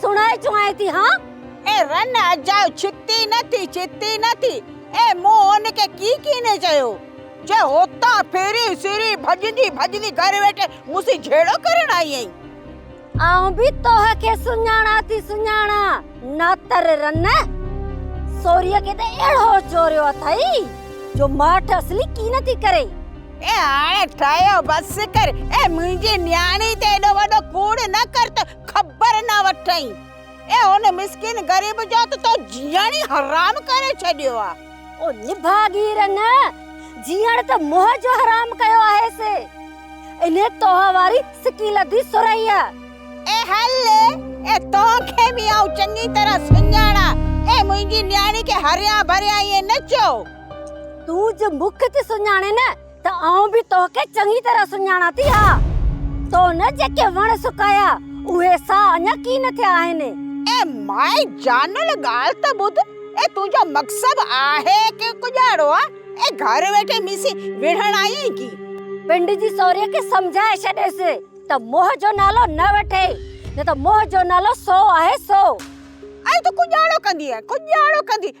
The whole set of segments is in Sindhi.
سڻائي چوائين ٿي ها. اي رن اجاء ڇتي نه ٿي ڇتي نه ٿي اي مون ان کي ڪي ڪيني چيو جي هتان ڦري سري ڀڄندي ڀڄندي گهر ويٺي مون سين جهيڙو ڪرڻ آئي آهين. آئون به توهه کي سڃاڻان ٿي سڃاڻان ناتر رن سوريء کي ته اهڙو چوريو اٿئي جو ماٺ اصلي ڪي نه ٿي ڪري. اي هاڻي ٺهيو بس ڪر اي منهنجي نياڻي تي ايڏو وڏو ڪوڙ نه ڪر ته خبر نه وٺئين اي هن مسڪين غريب جو ته تو جيئڻ ئي حرام ڪري ڇڏيو آ. او نڀاڳير نه جيئڻ ته منهن جو حرام ڪيو آهيس انهي توهان واري سڪي لڌي سرهي آ. اي هل اي توهان کي به آئون چڱي طرح سڃاڻا اي منهنجي نياڻي کي هريان ڀريان ائين نه چئو. تون جو مک تي سڃاڻين ته آئون به توکي چڱي طرح سڃاڻان ٿي ها. تو نه جيڪي وڻ سڪايا، اهي سا اڃا ڪين ٿيا آهن. اي مائي جانل ڳالهه ته ٻڌ، اي تنهنجو مڪسب آهي ڪي ڪڄاڙو آ، اي گهر ويٺي مون سين وڙهڻ آئي آهين ڪي؟ پنڊ جي سوريء کي سمجهائي ڇڏيس ته موهه جو نالو نه وٺي، نه ته موهه جو نالو سو آهي سو. ائين تون ڪڄاڙو ڪندينء، ڪڄاڙو ڪندينء.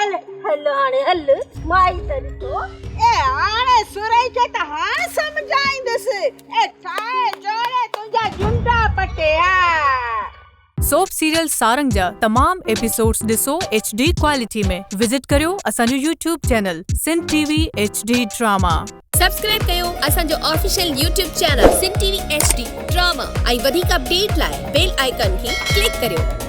هل هل هاڻي هل مائي تري ٿو اي هاڻي سورهي کي ته هاڻ سمجهائيندس اي ٺاهي جوڙي تنهنجا جنڊا پٽي ها سوپ سيريل سارنگ جا تمام ايپيسوڊز ڏسو ايڇ ڊي ڪوالٽي ۾ وزٽ ڪريو اسان جو YouTube channel Sindh T V H D drama. Subscribe ڪيو اسان جو official YouTube channel Sindh T V H D drama ۽ وڌيڪ اپڊيٽ لاء بيل آئيڪن کي ڪلڪ ڪريو.